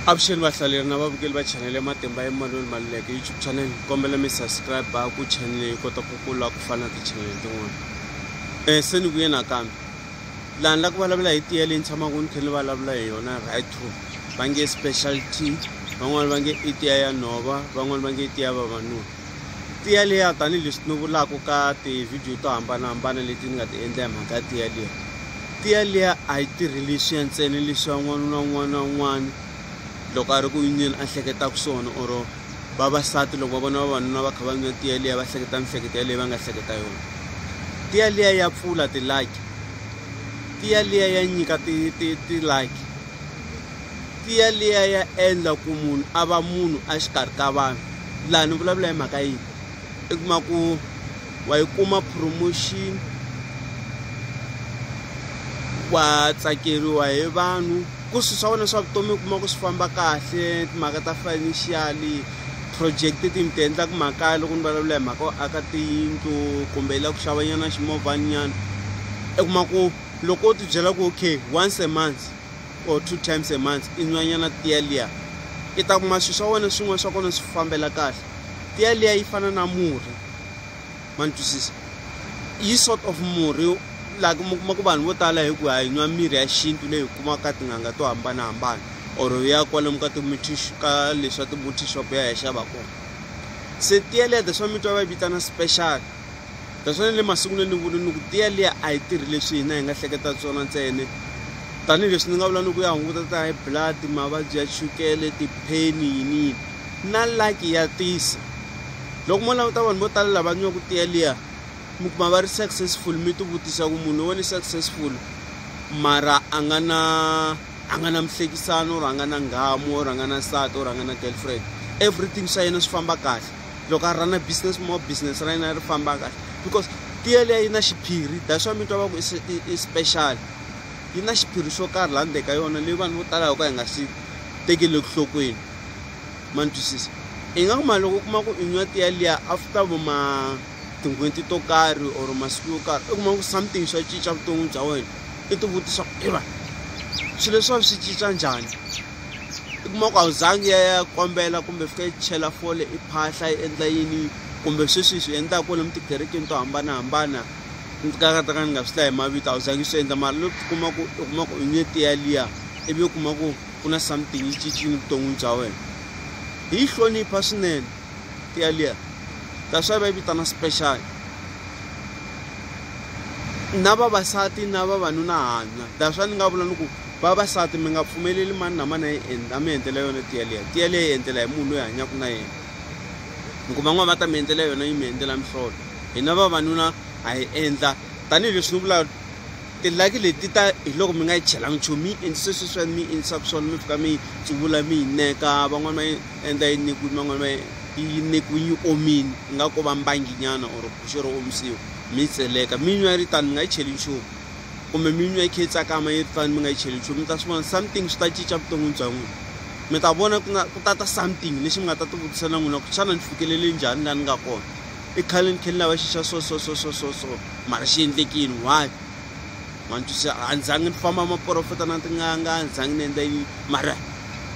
avuxeni vahlaleri na vavukeli va chanele ya matimba ya malweni maluleke youtube channel hi kombela mi subscribe ku chanele yi kota ku kula ku fana na tichanele tin'wana um se ni vuye nakambe laha ni la ku vulavula hi tiya leyi ni tshamaka ni khe ni vulavula hi yona right to va nge special t van'wani va nge i tiya ya nhova van'wani va nge i tiya vavanuna tiya liya tanihileswi ni vulaka ka tivhidiyo to hambanahambana leti ni nga ti endla hi mhaka ya tiya liya tiya liya a yi tirhi leswiya ntsena leswiya n'wana na un'wana na un'wana loko a ri ku yineni a hleketaka swona or vavasati loko va vona vavanuna va kha va nwa tiya liya va hleketa mihleketo yaleyi va nga hleketa yona tiya liya ya pfula tilaki tiya liya ya nyika tilaki tiya liya ya endla ku munhu a va munhu a xikarhi ka vanhu laha ni vulavula hi mhaka yini i kuma ku wa yi kuma promotion wa tsakeriwa hi vanhu ku swilo swa wena swa vutomi u kuma ku swi famba kahle timhaka ta financial project ti mi ti endlaka makaya loko ni vulavula hi mhaka yo aka tiyindlu kumbe yi lava ku xavanyana ximovhanyana i kuma ku loko u tibyela ku okay once a month. or two times a month i nwanyana tiya liya i ta kuma swilo swa wena swin'wana swa kona swi fambela kahle tiya liya yi fana na murhi ma ni twisisa yi sort of murhi like mi kuma ku vanhu vo tala hi ku ha yi nwa mirhi ya xintu leyi hi kumaka tin'anga to hambanahambana or ya kwalomu ka timutish ka leswa timuti shop ya hi ya xava kona se tiya liya that's why mi twa va yi vitana special Taswona le masungulweni ni vule ni ku tiya liya a yi tirhi leswi hina hi nga hleketa swona ntsene tanihileswi ni nga vula ni ku ya hunguta ta high blood mavabyi ya chukele tipheni yini yini na laki ya tisa loko mo languta vanhu vo tala lava nyiwaku tiya liya mi kuma va ri successful mi tivutisa ku munhu wo ni successful mara a nga na a nga na mihlekisano or a nga na nghamu or a nga na nsati or a nga na girlfriend everything swa yena swi famba kahle loko a rhana business more business ra yena ri famba kahle because tiya liya yi na xiphiri that's why mi twa va ku i special yi na xiphiri xo karhi laha ndzeni ka yona leyi vanhu vo tala yo ka hi nga xi tekeli enhlokweni ma ni twisisa i nga kuma loko u kuma ku i nwa tiya liya after vo ma tin'hweti to karhi or masiku yo karhi i kuma ku something swa cinca vutomi bya wena i tivutisa ku i va swilo leswi va swi cinca njhani i kuma ku a wu zangi ya ya kombela kumbe fika yi chela fole i phahla yi endla yini kumbe sweswi swi endlaka kwale mi tikerekeni to hambanahambana ni ti ka ka ni nga swi hlayi hi mavito a wu zangi swi endla mara loko kuma ku u kuma ku u nye tiya liya ivi u kuma ku ku na something yi cincile vuton'wini bya wena hi yi hlonipha swinene tiya liya that's why va yi vitana special na vavasati na vavanuna hanya that's why ni nga vula ni ku vavasati mi nga pfumeleli mani na mani a mi endlela yona tiya liya tiya liya yi endlela hi munhu loyi hanyaka na yena mi kuma n'wana va ta mi endlela yona yi mi endlela mihlolo hina vavanuna ha yi endla tanihileswi ni vulaka tilaki leti ta hi loko mi nga yi chelanga nchumu mi yi endlise sweswi swa mi yi endlisaka swona mi fika mi yi tsuvula mi yi neka van'wani va yi endla yi nekiwini van'wani va yi nekiwini yi omini yi nga ko va mbanginyana or guxe ro omisiwa mi yi tseleka mi nwa yi ri tani mi nga yi cheli nchumu kumbe mi nwa yi kha yi tsakama yi ri tano mi nga yi cheli nchumu mi ta swi vona something swi ta cinca vuton'wini bya n'wina mi ta vona ku nga ku ta ta something lexi mi nga ta tivutisa na n'wina ku xana ni fikelele njhani laha ni nga kona i khale ni khe ni lava xixa so so so so so so mara xi endlekini why ma ni twisisa a ni zangi ni famba maporofeta na tin'anga a ni zangi ni endla yini mara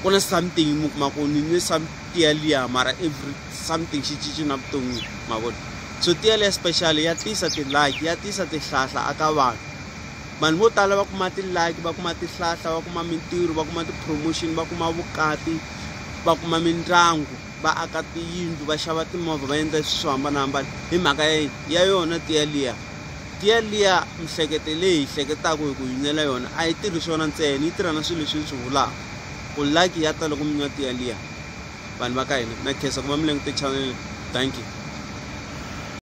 ku na something mi kuma ku ni nwe something yaliya mara every something xi cinci na vutomi ma vona so tiya leya special ya tisa ti-like ya tisa tihlahla aka vanhu vanhu vo tala va kuma ti-like va kuma tihlahla va kuma mintirho va kuma ti-promotion va kuma vukati va kuma mindyangu va aka tiyindlu va xava timovha va endla swilo swo hambanahambana hi mhaka ya yini ya yona tiya liya tiya liya mihleketo leyi hi hleketaka hi ku yi nwela yona a yi tirhi swona ntsena yi tirha na swilo leswi ni swi vulaka ku like ya ta loko mi nwa tiya liya vanhu va ka hina na khensa ku va mi langute channel thank you